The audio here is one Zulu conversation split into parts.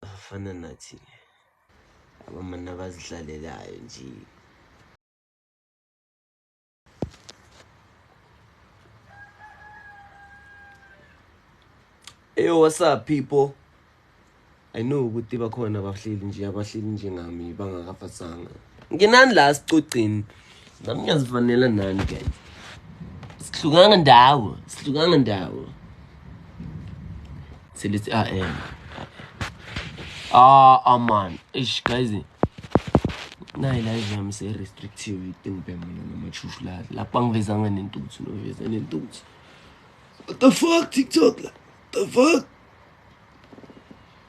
Bafana nathi le. Abamana bazidlalelayo nje. Eyo what's up people? I know ukuthi bakhona abahleli nje abahleli njengami bangakafasanga. nginani la sicocini nami ngiyazifanela nani guys sihlukanga ndawo sihlukanga ndawo selithi a m ah aman ah, ish guys nayi la yami se restrictive itingibe mina namashushu la lapho angivezanga nentuthu noveza nentuthu what the fuck tiktok la the fuck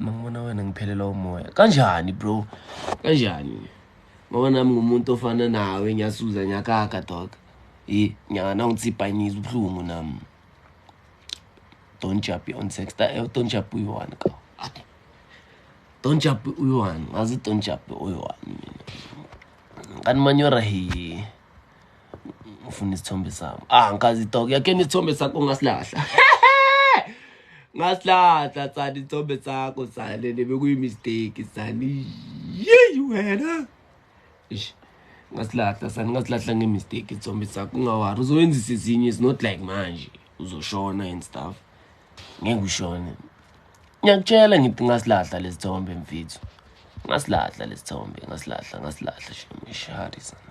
mangibona wena ngiphelelwa umoya kanjani bro kanjani ngoba nami ngumuntu ofana nawe ngiyasuza ngiyakaka dog yi nyaka nawungitsibhanyisa ubuhlungu nami don't jump on sex eh, don't jump uyi-one ka don't jump uyi-one ngazi don't jump uyi-one mina kanti manyora hiye ngifuna isithombe sami ah ngikazi dog yakhe isithombe sakho ngasilahla ngasilahla tsani isithombe sakho sale nebekuyi mistake sani yeyi wena ish ngasilahla sani ngasilahla nge mistake isithombe sakho ungawari uzoyenzisa izinye is not like manje uzoshona and stuff ngeke ushone ngiyakutshela ngithi ngasilahla lesithombe mfethu ngasilahla lesithombe ngasilahla ngasilahla shemishari sana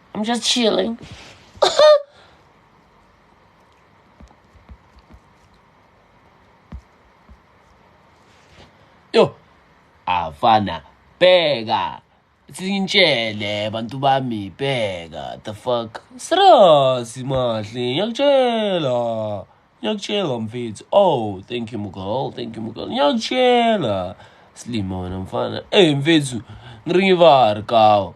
I'm just chilling. Yo, afana bheka sintshele bantu bami bheka the fuck serious mahle ngiyakutshela ngiyakutshela mfethu oh thank you mugol thank you mugol ngiyakutshela silima wena mfana ey mfethu ngiringivari kawo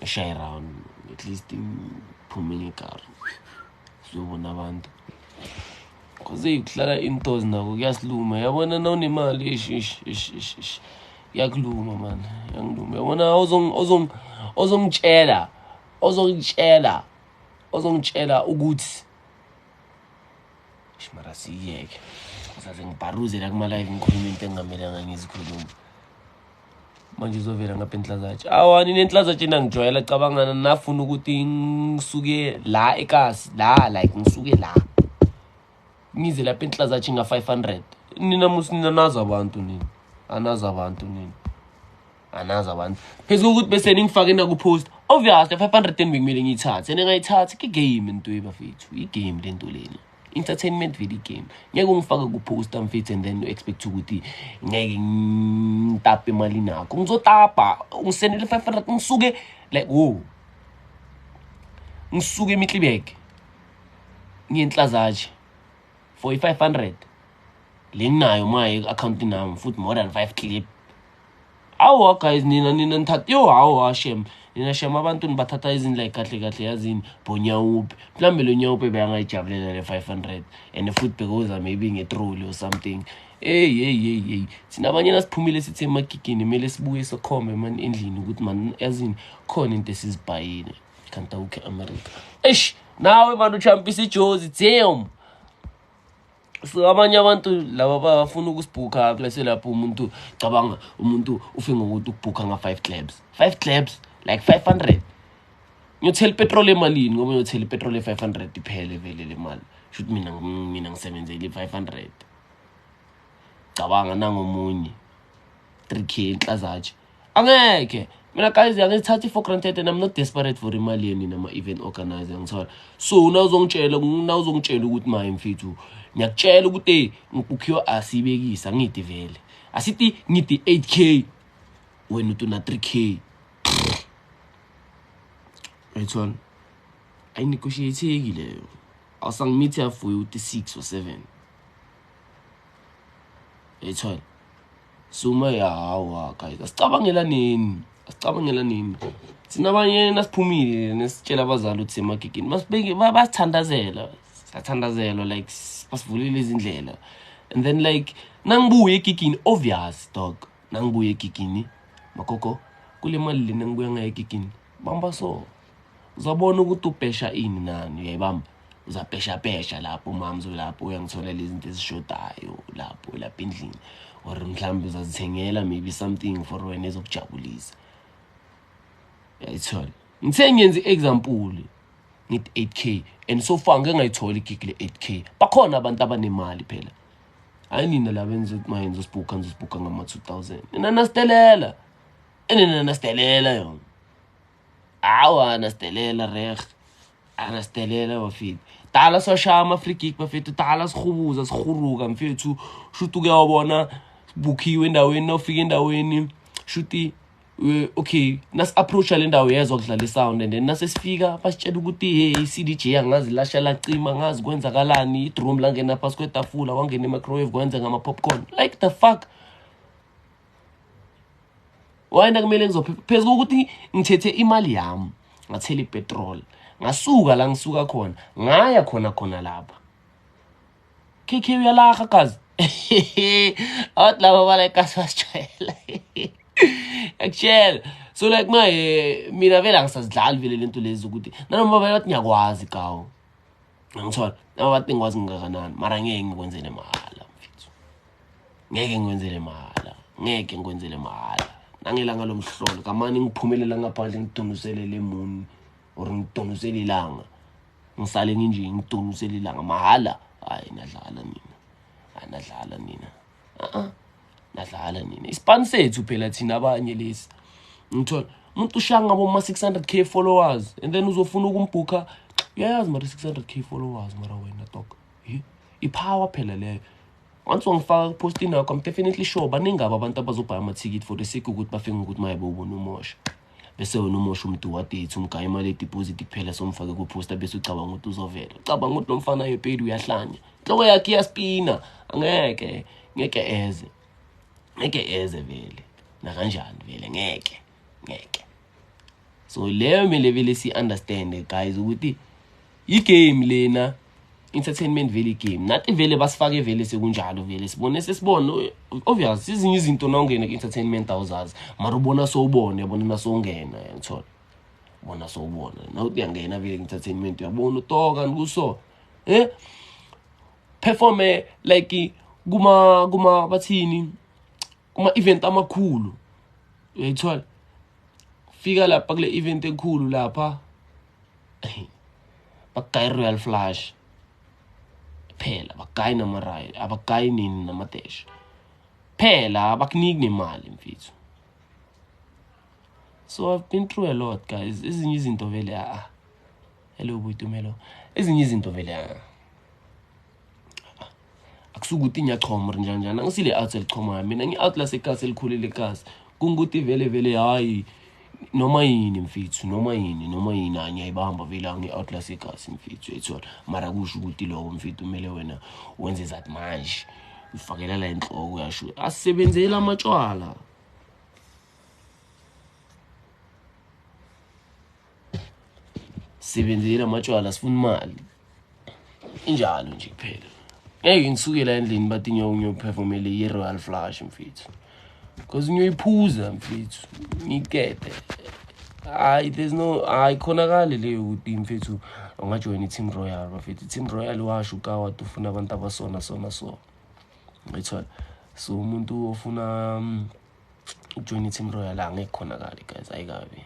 eshaye round at least iphume ngekar sizobona abantu cause kuhlala intos nako kuyasiluma yabona na unemali ish ish ish ish ish yakuluma man yangiluma yabona ozongitshela ozongitshela ozongitshela ukuthi shimara siyeke saze ngibharuzela kuma-live ngikhuluma into engingamelanga ngizikhuluma manje uzovela ngapha enhlazatshe awa nina enhlazatshe nangijwayela cabangana nafuna ukuthi ngisuke la ekasi la like ngisuke la ngize lapha enhlazatshe nga-five hundred nina musi nina nazi abantu nina anazi abantu nina anazi abantu phezu kokuthi bese ningifake nakupost obviously five hundred and bekumele ngiyithathe ningayithathi ke-game nto ebafethu i-game le nto lena entertainment video game ngeke ungifake kuposta mfethu and then u-expect ukuthi ngeke ngitape imali nakho ngizotapa ungisendele i-five hundred ngisuke like wo ngisuke emitlibek ngiyenhlazatshe for i-five hundred le nginayo maye i-akhawunti nami futhi more than five clip awa guys nina nina nithatha yo hawa shem nina shem abantu nibathatha izindlela kahle kahle yazini bonyawupe mhlawumbe lo nyawupe beyangayijabulela le 500 and futhi bekoza maybe ngetroli or something eyi yeyi yeyi yeyi thina abanye nasiphumile sithi emagigini kumele sibuye sokhombe mani endlini ukuthi mani yazini khona into esizibhayile kanti awukhe america eish nawe mani uchampisa ijozi damn so abanye abantu laba bafuna ukusibhukha bese lapho umuntu cabanga umuntu ufe ngokuthi ukubhukha nga-five clabs five clabs like five hundred ngiyothela ipetroli emalini ngoba ngiyothela ipetroli e-five hundred iphele vele le mali shuthi mina mina ngisebenzele i-five hundred cabanga nangomunye three k inhlazatshe angeke mina guys angizithathi for granted and i'm not desperate for imali yeni nama event organizer ngithola so na uzongitshela na uzongitshela ukuthi maye mfethu ngiyakutshela ukuthi hey ngibukhiyo asibekisa ngidi vele asithi ngidi 8k wena uthi una 3k right one ayinegotiatheki leyo awusangimithe afuye uthi 6 or 7 yayithola sume yawa guys asicabangela nini asicabangela nini thina abanye nasiphumile nesitshela abazali ukuthi emagigini basithandazela sathandazelwa like basivulile izindlela and then like nangibuye egigini obvious dog nangibuye egigini magogo kule mali lena ngibuya ngayo egigini bamba so uzobona ukuthi ubhesha ini nani uyayibamba uzabheshapesha lapho umama zolapho uyangitholela izinto ezishodayo lapho lapha endlini or mhlawumbe uzazithengela maybe something for wena ezokujabulisa uyayithola ngithe ngenza i-example ngithi 8 k and so far ngike ngayithola igigi le-8 k bakhona abantu abanemali phela hayi nina laba enza ukuthi mayenza usibhukha nizosibhukha ngama-two thousand nina nasitelela enina nasitelela yona awa anasdelela reg anasdelela bafethu dala sashaya ama-free gig bafethu dala sihubuza sihuruka mfethu shuthi uke wabona bukhiwe endaweni nawufika endaweni shuthi Eh, okay nasi-approacha le ndawo yezwa kudlala isound and then nasesifika basitshela ukuthi hey i-cd j angazi lasha lacima angazi kwenzakalani idroom langena phasi kwetafula wangena i-microwave kwenza ngama-popcorn like the fuck wayena kumele ngizophepha phezu kokuthi ngithethe imali yami ngathela ipetrol ngasuka la ngisuka khona ngaya khona khona lapha kk uyalaha kazi awathi laba balekasi basijwayela akutshela so like maye mina vele angisazidlali vele le nto lezi ukuthi nanoma baye bathi ngiyakwazi kawo angithola noma bathi ngikwazi ngingakanani mara ngeke ngikwenzele mahhala mfethu ngeke ngikwenzele mahhala ngeke ngikwenzele mahhala nangelanga lomhlolo kamane ngiphumelela ngaphandle ngidonusele le muni or ngidonusele ilanga ngisale nginje ngidonusele ilanga mahhala hayi nadlala nina hayi nadlala nina uh-uh. nadlala nina isipani sethu phela thina abanye lesi ngithola umuntu ushanga boma 600k followers and then uzofuna ukumbhukha uyayazi mara 600k followers mara wena dog ipower phela leyo once wangifaka kupost inakho i'm definitely sure baningi aba abantu abazobhaya amathikithi for the sake ukuthi bafike ngokuthi maye bowubona umosha bese wena umosha umdu wadate umgaya imali yedibhoziti kuphela somfake kuphosta bese ucabanga ukuthi uzovela ucabanga ukuthi lo mfana yepedi uyahlanya inhloko yakhe iyaspina angeke ngeke eze ngeke eze vele nakanjani vele ngeke ngeke so leyo mele vele si-understande guys ukuthi yi game lena entertainment vele game nathi vele basifake vele sekunjalo vele sibone sesibone obvious izinye izinto nongena ku entertainment awuzazi mara ubona sowubone yabona nasongena yangithola bona sowubona nawe uyangena vele ku entertainment uyabona utoka nikuso eh performe like kuma kuma bathini kuma event amakhulu uyayithola fika lapha kule event enkulu lapha bakayi royal flush phela bakayi namarayi abakayi nini namadesh phela abakuniki nemali mfethu so i've been through a lot guys ezinye izinto vele a ah, hello buyitumelo ezinye izinto vele a ah. akusukuthi ngiyachoma or njani njani angisile out elichomayo mina ngi out lasekasi elikhulile kasi kungukuthi vele vele hayi noma yini mfethu noma yini noma yini angiyayibamba vele angi-out lasekasi mfethu ethola mara kusho ukuthi loko mfethu kumele wena wenze zathi manje ufakela la enhloko yasho asisebenzeli amatshwala sebenzela amatshwala sifuna imali injalo nje kuphela ngeke ngisukela endlini bathi nyoka ngiyophefomele i-royal flush mfethu because ngiyoyiphuza mfethu ngikete hayi there's no hayi khonakali leyo ukuthi mfethu ungajoyina i-team royal bafethu i-team royal washo ukawat ufuna abantu abasona sona so ngithola so umuntu ofuna um, ujoyina i-team royal la ngeke khonakali guys ayikabi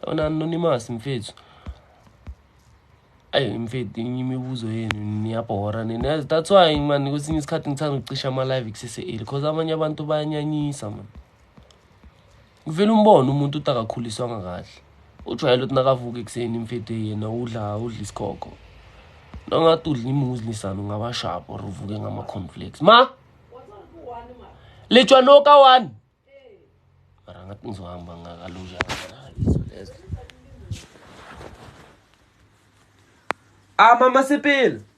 yona anonymous mfethu ayi mfethu imibuzo yenu niyabhora nina that's why man kwesinye isikhathi ngithanda ukucisha ama-live kusese-eli because abanye abantu bayanyanyisa mani Uvele umbone umuntu uthi akakhuliswanga kahle. Ujwayele ukuthi nakavuka ekuseni imfethu yena udla udla isikhokho. Nongathi udla imuzi lisana ungaba sharp or uvuke ngama-conflicts. Ma! Litshwa noka one! Mara ngathi ngizohamba ngakaluja ngakaliso lezo. Ah, mama Sepele!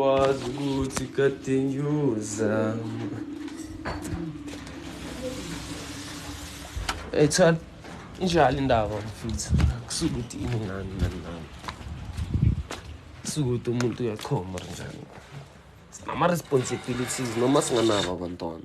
Wazi ukuthi kade ngiyozama Ethal injalo indaba mfuthu kusuke ukuthi ini ngani nani nani kusuke ukuthi umuntu uyachoma njani sinama-responsibilities noma singanabo abantwana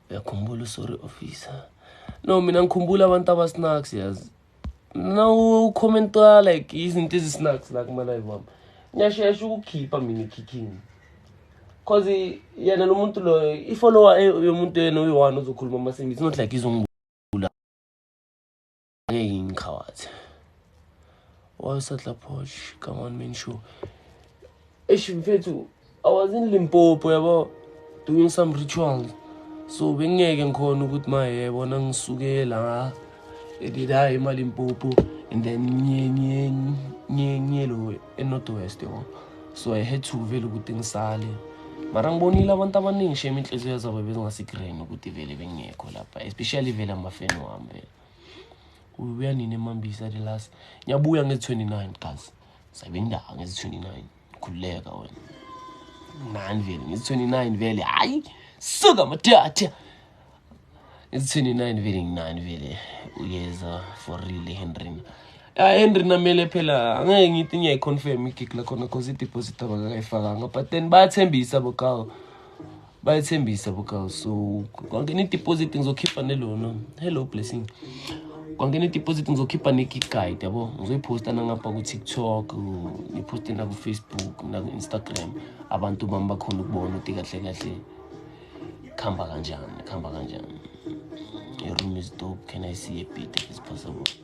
uyakhumbula usorry officer no mina ngikhumbula abantu abasnacks yazi mina ucommentwa like izinto ezisnacks la kumalive wami ngiyashesha ukukhipha mina ikhikhini cause yena lo muntu loyo ifollower yomuntu yena uyi-one uzokhuluma amasingisi not like izungu Hey, Nkawazi. What's that, Laposh? Come on, man, show. Eish, mfethu, I was in Limpopo, yabo, doing some rituals. So, bengeke ngikhona ukuthi ma yebo nangisuke la edida imali Limpopo and then nye nye nye nye lo eNorth West yabo. So, I had to vele ukuthi ngisale. Mara ngibonile abantu abaningi shame inhliziyo zabo bezingasegreen ukuthi vele bengekho lapha, especially vele amafeni wami vele. ubuya nini emambisa the last ngiyabuya ngezi-29 guys sabe ndawo ngezi-29 khululeka wena nani vele ngezi-29 vele hhayi suka madatha ngezi-29 vele nginani vele uyeza for real ehenrina ya henry namele phela angeke ngithi ngiyayi-confirm igig lakhona cause ideposit abakakayifakanga but then bayathembisa bokawo bayethembisa buka so kwangena ideposit ngizokhipha nelona hello blessing kwangena ideposit ngizokhipha ne-gig guide yabo ngizoyiposta nangapha ku-tiktok ngiphoste naku-facebook naku-instagram abantu bami bakhona ukubona ukuthi kahle kahle kuhamba kanjani kuhamba kanjani your room is dope can i see a bit if it's possible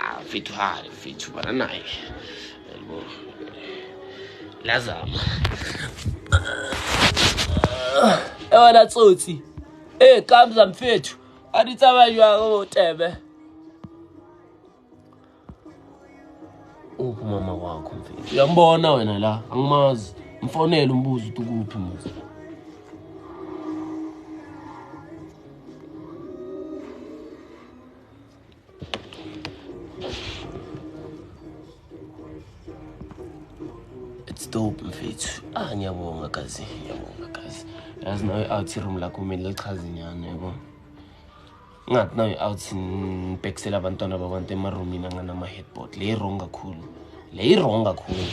Ah, mfethu hhayi mfethu bana naye yabo lazama ewona tsotsi ey kamza mfethu anitsabanjwa otebe uphi umama wakho mfethu uyambona wena la angimazi mfonele umbuzo ukuthi ukuphi muzi It's dope mfethu. Ah ngiyabonga kazi, ngiyabonga kazi. Yazi nawe out room lakho mina lichaza inyane yabo. Ngathi nawe out nibhekisela abantwana babantu emaroomini anganama headboard. Le wrong kakhulu. Le wrong kakhulu.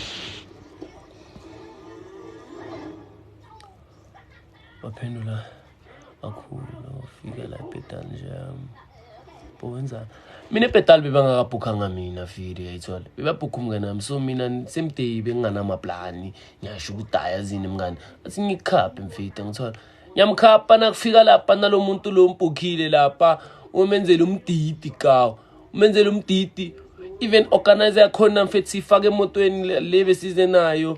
waphendula kakhulu wafika la ebhedali nje um, bowenza mina ebhedali bebangakabhukhanga mina fili yayithola bebabhukha umngane wami so mina same day benginganamaplani ngiyasho ukuthi hhayi azini mngane athi ngikhaphe mfita ngithola ngiyamkhapha nakufika lapha nalo muntu lo mbhukhile lapha umenzela umdidi kawo umenzela umdidi even organizer yakhona mfethi siyifake emotweni le besize nayo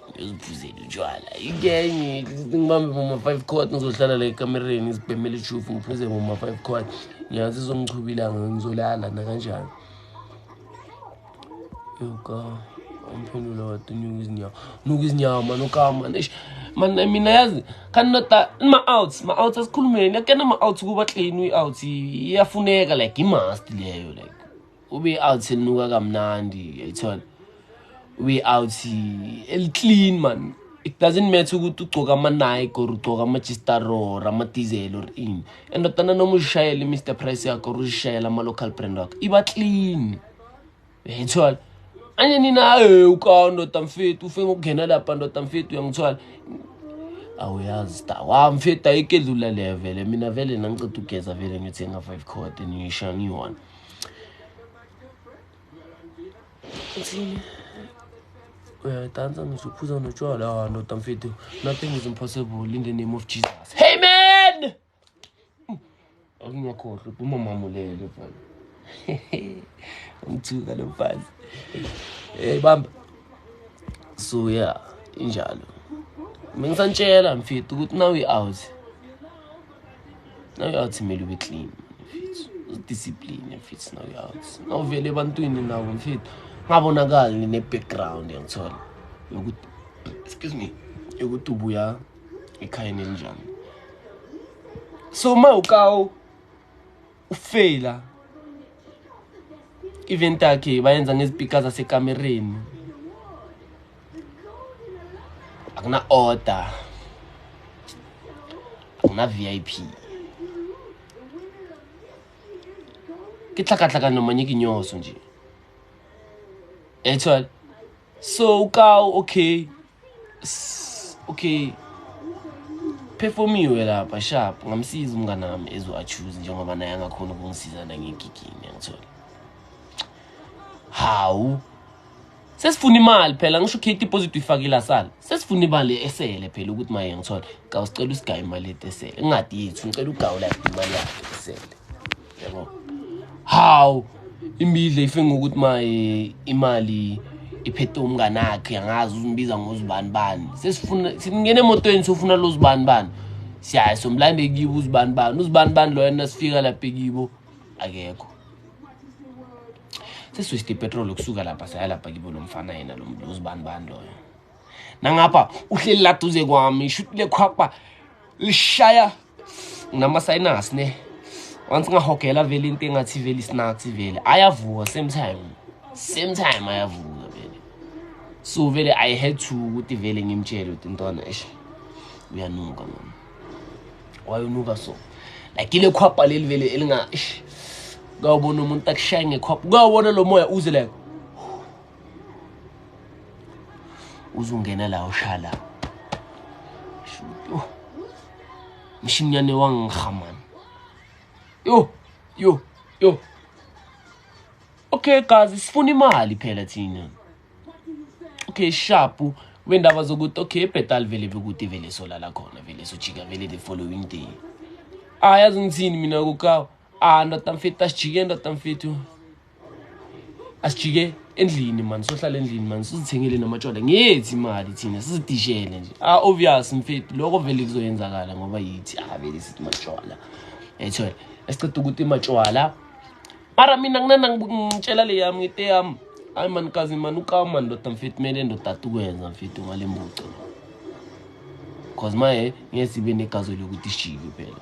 uziphuzela utshwala ikenye ngibambe mama five court ngizohlala la ekamereni ngizibhemele ishufu ngiphuze mama five court ngiyazi izongichuba ilanga ngizolala nakanjani yoka umphendula watunyuka izinyawo nuka izinyawo mani ukama nish mani mina yazi khani nota ma-outs ma-outs asikhulumeni akena ma-outs kuba clain i-outs iyafuneka like i-must leyo like ube out selinuka kamnandi yayithola ube out eliclean man it doesn't matter ukuthi ugcoka ama-nike or ugcoka ama-gistar or ama-diesel or in endodana noma uzishayele i-mr price yakho or uzishayele ama-local brand wakho iba clean yayithola anye nina haye ukawo ndoda mfethu ufe ngokungena lapha ndoda mfethu uyangithwala awuyazi sta wa mfethu ayike dlula le vele mina vele nangiceda ugeza vele ngiyothenga five code niyisha ngiyona Thina. uyadansa ngisho uphuza notshwala ah ndoda mfethu nothing is impossible in the name of jesus hey man akungakhohlwa uphuma mamulele mfana umthuka lo mfazi hey bamba so yeah injalo mina ngisantshela mfethu ukuthi now i-out nawuyawuthimela ube clean udiscipline mfethu nawuyawuthi nawuvele ebantwini nabo mfethu ngabonakali nine-background yangithola yokuthi excuse me yokuthi ubuya ekhayeni elinjani so uma ukawu ufeyila event yakhe bayenza ngezipika zasekamereni akuna-order akuna-v i p ke tlhakatlhakano manye ke nyoso nje etshwale So ukawu okay. S okay. Performiwe lapha sharp ngamsiza umngane wami ezo choose njengoba naye angakhona ukungisiza nangegigini yangithola. Hawu sesifuna imali phela ngisho ukhe deposit uyifakile asala sesifuna imali esele phela ukuthi maye ngithola ka usicela usigaye imali etesele ingadi yethu ngicela ugawula imali yakhe esele yabo how imbidle ife ngokuthi maye imali iphethe umngane akhe angazi uzimbiza ngozibani bani sesifuna singena emotweni sofuna lo zibani bani siyaye somlande kibo uzibani bani uzibani bani loyo nasifika lapha kibo akekho seswiste ipetrol ukusuka lapha saya lapha kibo lo mfana yena lo uzibani bani loyo nangapha uhleli la duze kwami ishuti lekhwapha lishaya nginama-sinus ne once ngahogela vele into engathi vele isinathi vele ayavuka same time same time ayavuka vele so vele i had to ukuthi vele ngimtshele ukuthi ntwana esh uyanuka mama wayonuka so like ile khwapha leli vele elinga ish kawubona umuntu akushaya ngekhwapha kawubona lo moya uze like uzungena la ushala shuto mshinyane wangikha man yo yo yo okay guys sifuna imali phela thina okay shapu wendaba zokuthi okay ibhetal vele bekude vele solala khona vele sojika vele the following day ayazi ngithini mina kukawa ah ndoda mfethu asijike ndoda mfethu asijike endlini mani sohlala endlini mani sizithengele namatshwala ngethi imali thina sizidishele nje ah obvious mfethu lokho vele kuzoyenzakala ngoba yithi ah vele sithi matshwala yayithole esiqeda ukuthi imatshwala mara mina nginana ngitshela le yami ngite yami hayi mani kazi mani ukawu mani ndoda mfethu kumele ndodata ukwenza mfethu ngale mbuco cause maye ngesibe negazi lokuthi shiki phela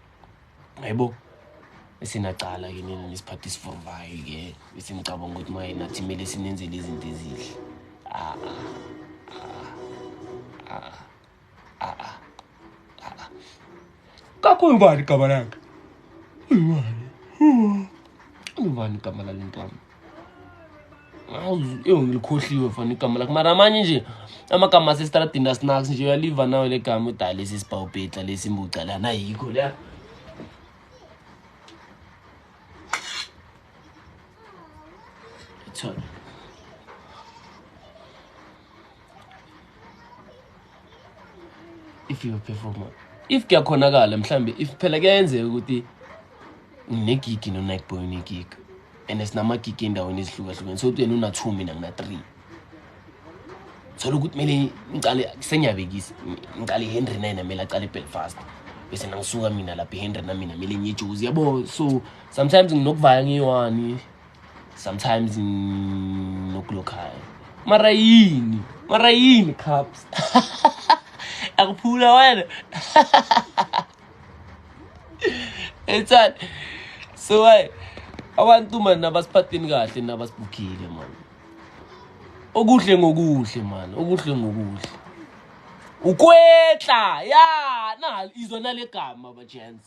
Hayibo. Esinacala ke nina nesiphathi isivuvayo ke bese ngicabanga ukuthi maye nathi kumele sinenzele izinto ezihle. Ah ah. Ah. Ah. ah. Kakhulu ngani igama lakhe? Ingani? Ingani igama lale ntombi? ewu ngilikhohliwe fana igama lakhe mara amanye nje amagama asesitradini asinax nje uyaliva nawe le gama udala lesi sibhawubhetla lesi mbuca lana yikho leya if you perform if kuyakhonakala mhlambe if phela kuyenzeka ukuthi nginegigi no-night boy unegig and sinamagigi endaweni ezihlukahlukene so kuyena una-two mina ngina-three thola ukuthi kumele ngicale sengiyabekisa ngicale ihenry naye namele acale ebelfast bese nangisuka mina lapha ihenry namina mele ngiyejuzi yabo so sometimes nginokuvaya ngiyi-one sometimes nokulokhaya mara yini mara yini cups akuphula wena ethani so hayi abantu mani nabasiphatheni kahle nabasibukile mani okuhle ngokuhle mani okuhle ngokuhle ukwetla ya na izona legama bajens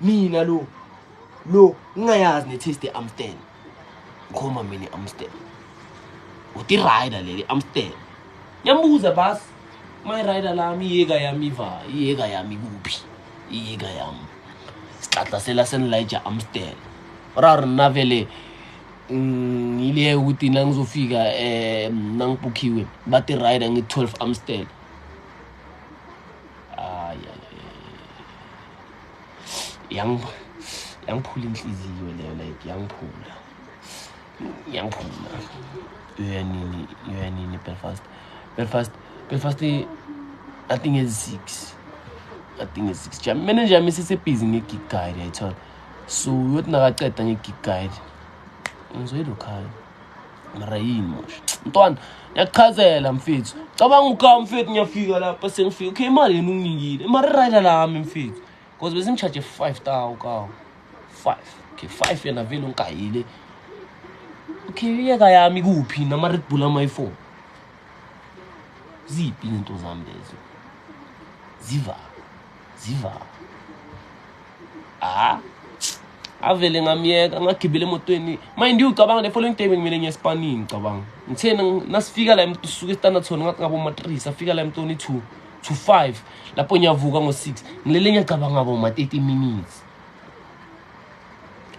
mina lo lo ngingayazi ne-taste ye-amstel ngikhuluma mina i-amstel uthi rider leli amstel ngiyambuza bas my rider lami iyeka yami iva iyeka yami kuphi iyeka yami sixaxasela senilija amstel raro nna vele mm, ngileyeke ukuthi nangizofika um nangibhukhiwe bati rider ngi-twelve amstel yangiphula inhliziyo leyo like yangiphula yangiphula uyanini uyanini belfast belfast belfast i think is six i think is six jam mina nje misisebhizi nge-gig guide yayithola so uyothi nakaceda nge-gig guide ngizoyilokhaya mara yini mosha mntwana ngiyakuchazela mfethu cabanga uka mfethu ngiyafika lapha sengifika okay imali yena unginikile mara irayida lami mfethu because besimchaje five tawu kawu five okay five yena vele ungigayile okay iyeka yami kuphi nama-red bull amayi-four ziphi izinto zami lezo zivaphi ziva ah avele ngamyeka ngagibela emotweni mind you ucabanga the following day ngimele ngiye esipanini ngicabanga ngithena nasifika la emntu suke standard zone ngathi ngabo ma 3 safika la emntoni 2 to 5 lapho ngiyavuka ngo 6 ngilele ngiyacabanga ngabo ma 30 minutes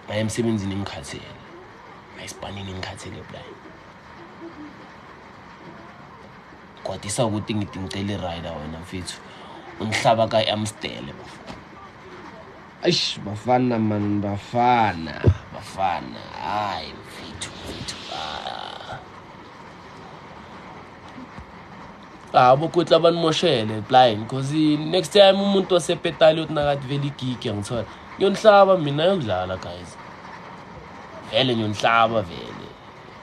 ngaye emsebenzini ngikhathele ngaye esipanini ngikhathele blind Kwatisa ukuthi ngithi ngicela i-rider wena mfethu ungihlaba ka-amstele bafana eish bafana man bafana bafana hayi mfethu mfethu ah. ah bokuthi abanimoshele blind because next time umuntu wasepetali uyothi nakathi vele igigi angithola ngiyonihlaba mina yokudlala guys vele ngiyonihlaba vele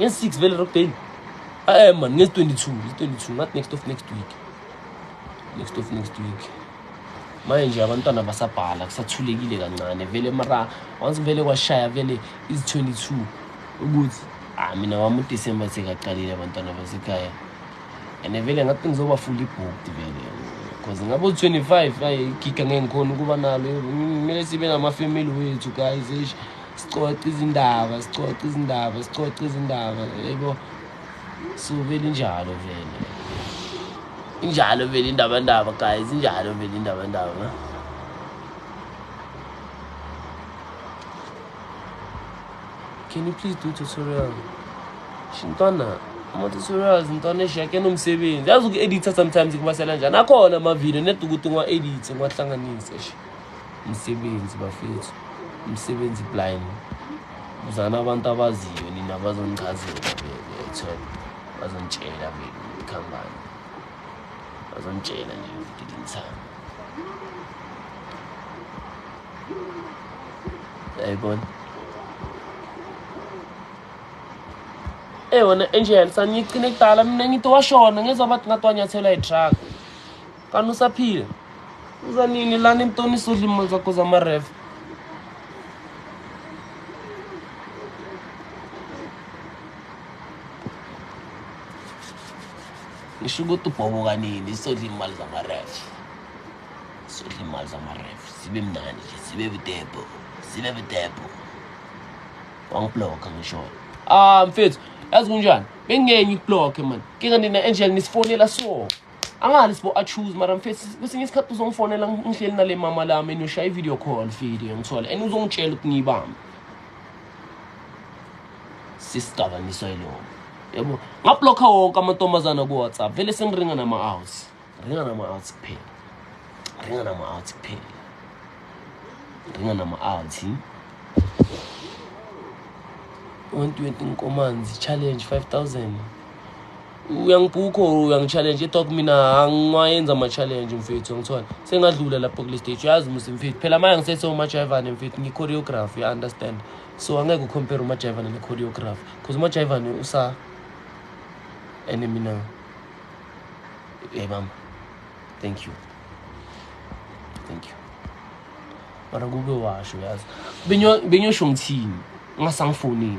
nge-six vele rockdale ae man nge-twenty-two nge-twenty-two not next of next week next of next week manje nje abantwana basabhala kusathulekile kancane vele mara once vele kwashaya vele izi-twenty-two ukuthi ah mina wami udisemba sekaqalile abantwana basekhaya and vele ngathi ngizoba fully booked vele because ngabe u-twenty-five ayi giga ngeke ngikhona ukuba nalo kumele sibe namafamily wethu guys eish sicoca izindaba sicoca izindaba sicoca izindaba yebo so vele injalo vele injalo vele indabandaba guys injalo vele indabandaba can you please do tutorial shintwana ama-tutorials ntwana eshake nomsebenzi yazi uku-editha sometimes kubasela njani akhona amavidiyo neda ukuthi ngiwa-edithe ngiwahlanganise sha Msebenzi bafethu, msebenzi blind. Uzana abantu abaziyo nina bazongichazela bethol bazongitshela bekhambani. Bazongitshela nje ukuthi ngithanda. Yayibona. Eh wena Angel saniyicine kudala mina ngithi washona ngezwa bathi ngatwanyathela i-truck. Kanti usaphila? Uza nini lana emtoni sodla imali zakho zamarefa? Ngisho ukuthi ubhoboka nini sodla imali zamarefa. Sodla imali zamarefa. Sibe mnandi nje, sibe budebo, sibe budebo. Wangibloka ngisho. Ah mfethu, yazi kunjani? Bengenye ibloke man. Kinga nina Angel nisifonela so. angali sibo achoose mara mfethu kwesinye isikhathi uzongifonela ngihleli nale mama lami and ushaya i-video call video ngithole and uzongitshela ukuthi ngiyibambe sisidakamisa yiloko yabo ngablokha wonke amantombazana ku-whatsapp vele sengiringa nama-outs ringa nama-outs kuphela ringa nama-outs kuphela ringa nama-outs 120 nkomanzi challenge 5000 uyangibhukha or uyangitshalenje ithiwa kumina angiwayenza ama-challenge mfethu angithole sengadlula lapho kule stage uyazi musi mfethu phela manje ngisese umajayivane mfethu ngi-choreography i understand so angeke ucompare umajayivane ne-choreography because umajayivane usa ene mina yayibamba thank you thank you mara kube washo yazi benyosho ngithini ungasangifonini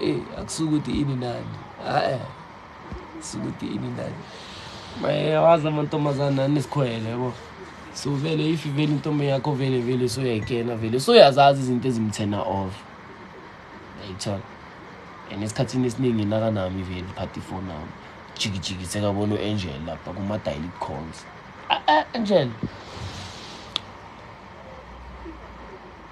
Eyi akusukuthi ini nani hayi sukuthi ini nani mayewazi amantombazane nani sikhwele yabo so vele if vele intombi yakho vele vele soyayikena vele soyazazi izinto ezimthena off yayithola and esikhathini esiningi nakanami vele phathi ifoni nami jikijiki sekabona u-angel lapha kuma-dialit calls a-a angel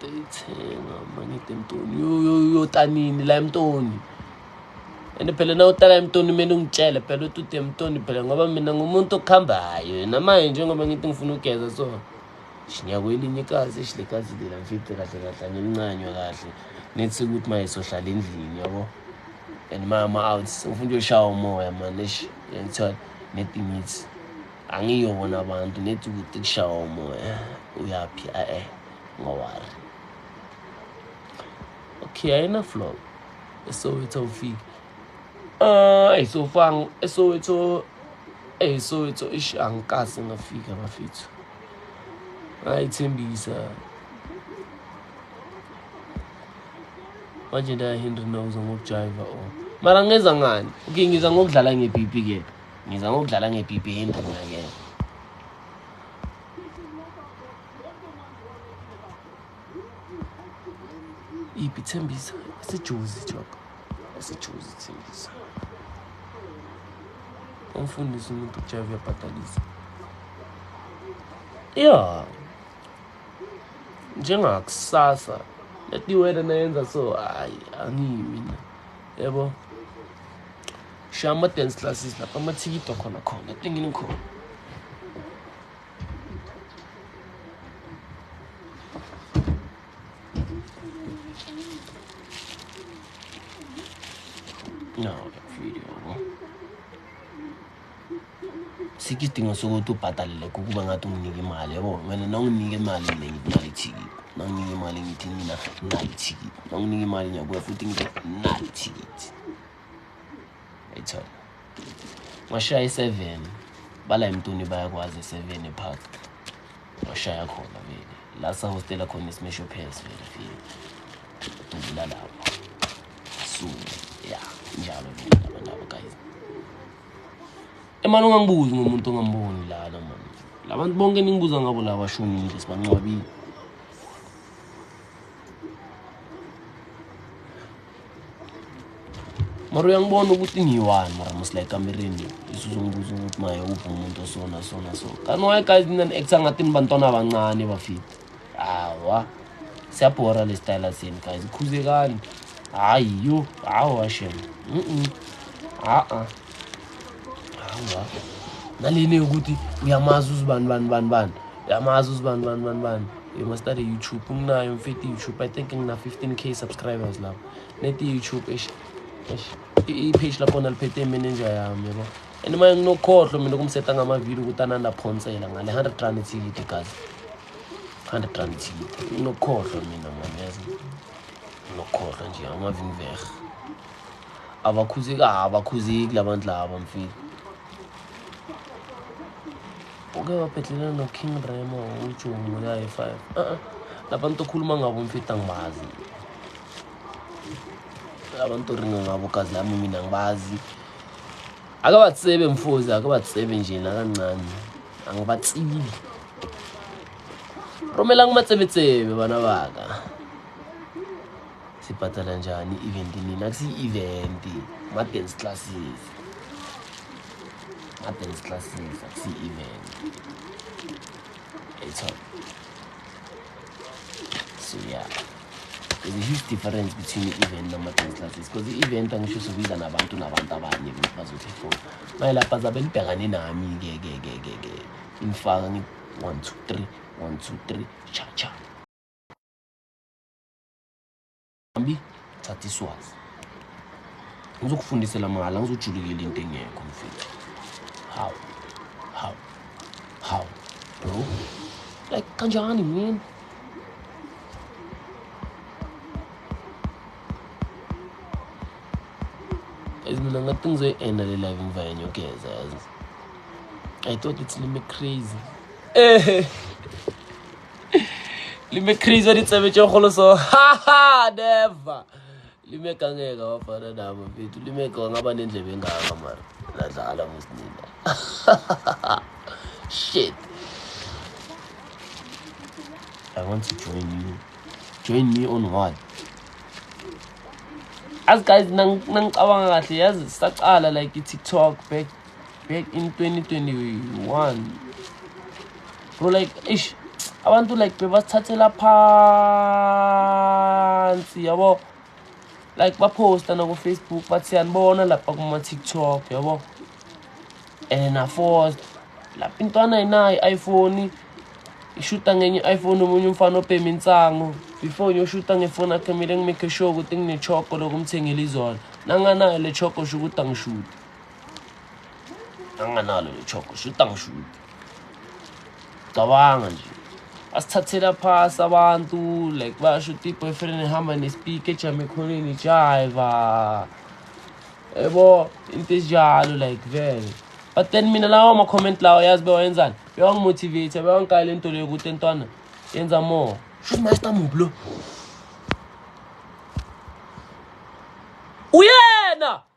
ngitayithenga mangide mtoni uyota nini la emtoni and phela na utala emtoni kumele ungitshele phela ukuthi ude emtoni phela ngoba mina ngumuntu okuhambayo yena manje njengoba ngithi ngifuna ugeza so shinyakwelinye ikazi ishilekazi lela mfice kahle kahle angilincanywa kahle nethi ukuthi maye sohlala endlini yabo and mama out ufuna uyoshaya umoya manje ngithiwa nedingithi angiyo bona abantu nethi ukuthi kushawa umoya uyaphi ae ngowari okay ayina flow esowetho ufike ah uh, isofang esowetho esowetho ish angikasi ngafika bafethu ayithembisa manje ndayahinda nokuzwa ngokujayiva o oh. mara ngenza ngani okay ngiza ngokudlala nge-bp ke Ngiza ngokudlala ngepipi enduna ke. Ipi Thembisa, sijuzi job. Sijuzi Thembisa. Umfundisi umuntu uJava uyabhadalisa. Yeah. Njengakusasa letiwena nayenza so hayi angiyi mina. Yebo. Yeah, Sha ama dance classes lapha amathikido khona khona etengini khona. No, video. Sikho isidingo sokuthi ubhadalele kukuba ngathi unginike imali yabo wena nawunginike imali mina ngikunale ithikithi nanginike imali ngithi mina nginale ithikithi nanginike imali ngiyakuya futhi ngithi nginale ithikithi ayithola washaya i-seven bala emntwini bayakwazi i-seven epark washaya khona vele la sahostela khona isimesho phesi vele file dubula lapho suke ya njalo vele abantu abo guys emani ungangibuzi ngomuntu ongamboni lana mani labantu bonke ningibuza ngabo la bashonile sibancwabile mara uyangibona ukuthi ngiyi-one mara musla ekamereni isuzongibuza ukuthi maye uphi umuntu osona sona so kanti waye guys mina ni-acta ngathi nibantwana abancane bafiti hawa siyabhora le style senu guys ikhuzekani hayi yo hawa shem a-a naleni yokuthi uyamazi uzibani bani bani bani uyamazi uzibani bani bani bani you must start a youtube nginayo mfethu youtube i think ngina 15 k subscribers lapho neti youtube ish ish i-page lakhona liphethe imeneja yami yabo and manje nginokhohlwa mina kumseta ngamavidiyo ukuthi anandaphonsela ngale 100 rand ethikiti gazi 100 rand ethikiti nginokhohlwa mina manje yazi nginokhohlwa nje amavinvehe Abakhuzeki abakhuzeki labantu laba mfethu. Uke wabhedlela no King Remo uJoni ngo high five. Uh -uh. Labantu okhuluma ngabo mfethu angibazi. Labantu oringa ngabo gazi lami mina ngibazi. Akabatsebe mfozi akabatsebe nje nakancane. Angibatsili. Romela ngimatsebetsebe bana baka. sibhadala njani i-event nini akusiyi-event ma-dance classes ma-dance classes akusiyi-event etho so ya yeah. there's a huge difference between i-event nama-dance classes because i-event angisho sobiza nabantu nabantu abanye ukuthi bazothi fo maye lapha zabe nibhekane nami ke ke ke ke ke ngifaka ngi one two three one two three cha cha Mbi, thatha iswazi. Ngizokufundisela mahhala, ngizojulukela into engekho mfethu. How? How? How? Bro? Like kanjani man? Guys, mina ngathi ngizoyi-enda le live ngiva yanyokeza yazi. I thought it's lime crazy. Eh. lime crazy wa ditsebe tše kgolo so haha never lime kangeka wa fana nama fethu lime ka wanga ba nendlebe engaka mara nadlala musnina shit i want to join you join me on what as guys nangicabanga kahle yazi sacala like itiktok back back in 2021 bro like ish abantu like bebasithathela phansi yabo like baphosta nakufacebook bathi siyanibona lapha kuma-tiktok yabo and then aforce lapha intwana ayinayo i-iphone ishuta ngenye i-iphone omunye umfana obhema insango before ngiyoshuta ngefoni akhe kumele ngimekhe sure ukuthi nginechoko lokumthengela izona nanganayo le choko sho ukuthi angishuti anganalo lechoko shuta ngishuta cabanga nje asithathela phasi abantu like basho ukuthi i-boyfriend ehamba nespeak ejama ekhoneni ijayiva yebo into enjalo like vele but then mina lawo ama-comment lawo yazi bewayenzani bewangimotivate bewangikayela into leyo ukuthi entwana yenza more shuthi master mubi lo uyena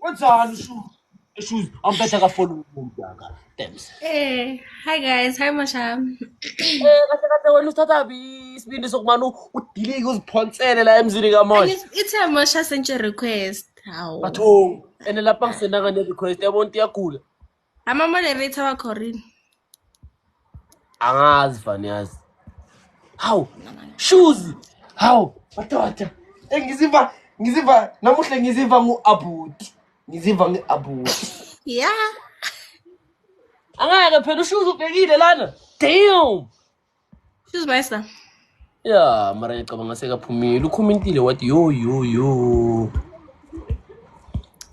Wenzani shu? Issues ampetha ka phone umuntu aka. Thanks. Eh, hi guys, hi Masha. Eh, kahle kahle wena uthatha bi isibindi sokumana udilike uziphonsele la emzini ka Mosha. It's a Masha sent your request. Hawu. Batho, ene lapha ngisenaka ne request yabona iyagula. Ama moderator wakho rini? Angazi fani yazi. Hawu. Shoes. Hawu. Madoda. Eh, Ngizimba ngizimba namuhla ngizimba ngu-abuti. Ngizimba ngu-abuti. Yeah. Angeke phela ushuza ubhekile lana. Damn. Sizibesa. Yeah, mara ngicabanga sekaphumile. Ukhomintile wathi yo yo yo.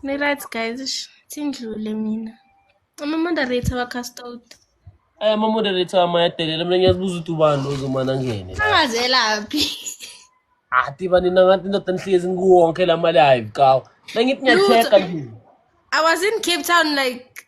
Ni right guys, sindlule mina. Ama moderator wa cast out. Aya ama moderator amayadelela mina ngiyazibuza ukuthi ubani ozomana ngene. Angazelaphi. Ati bani nangathi ndoda nihlezi ngikuwonke la mali hayi kawo. Nangithi ngiyatheka nje. I was in Cape Town like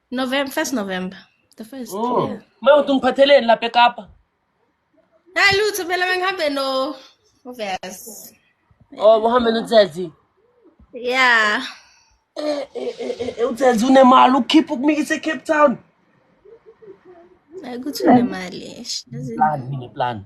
November, first November. The first. Oh. Yeah. Ma uthi ngiphatheleni lapha eKapa. Hayi lutho phela bengihambe no Uvers. Oh, uhambe noThathi. Yeah. Eh eh eh, eh uThathi unemali ukhipha ukumikisa eCape Town. Hayi kuthi unemali. Plan, ngine plan.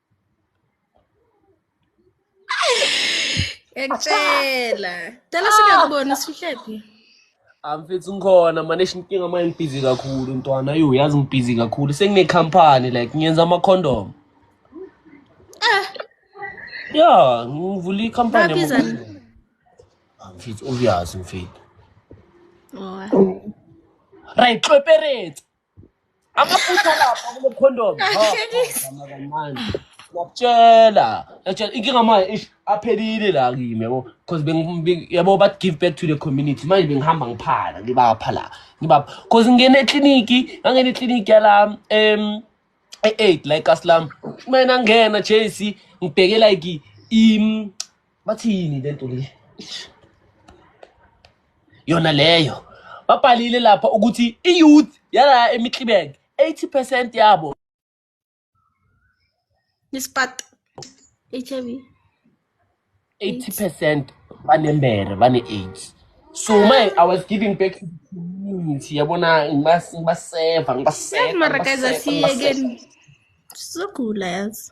Ngiyakutshela. Dala singakubona sihlephi. Amfethu ah, ngikhona manje inkinga manje ngibhizi kakhulu ntwana yo yazi ngibhizi kakhulu sengine company like ngiyenza ama condom. Eh. Ya, ngivula i company. Amfethu ah, obvious mfethu. Oh. Right, cooperate. amaphutha lapha kulo condom kancane ngiyakutshela ngiyakutshela inkinga manje ish aphelile la kimi yabo because bengi- bengi- yabo but give back to the community manje bengihamba ngiphala ngibapha la ngibapha because ngingena ekliniki ngangena ekliniki yala um e-eight la ekasilami mina ngena jesi ngibheke like im bathini lento le yona leyo babhalile lapha ukuthi i-youth yala emitlibeng 80 percent yabo Ispat. HIV. 80 percent banembere bane-aids so my i was giving back to the community yabona ngibas- ngibaseva ngibaseva Mara guys ngibaseva, ngibaseva. asiyekeni. Sizogula yazi.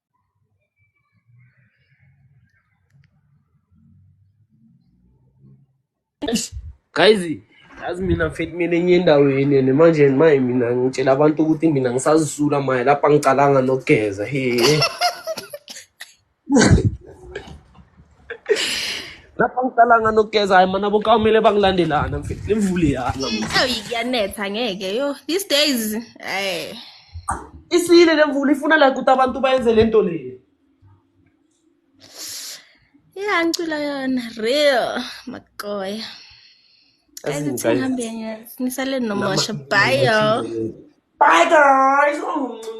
guys yazi mina mfethu mina enye endaweni yene manje maye mina ngitshela abantu ukuthi mina ngisazisula maye lapha ngicalanga nokugeza he lapha ngiqalanga nokugeza hayi mana bokamele bangilandelana mfethu lemvule yana ayi kuyanetha ngeke yo these days eh isile lemvula ifuna like ukuthi abantu bayenze lento le ya ngicula yona real makoya Nisaleni nomosho. Bye, y'all. Bye, guys. Oh.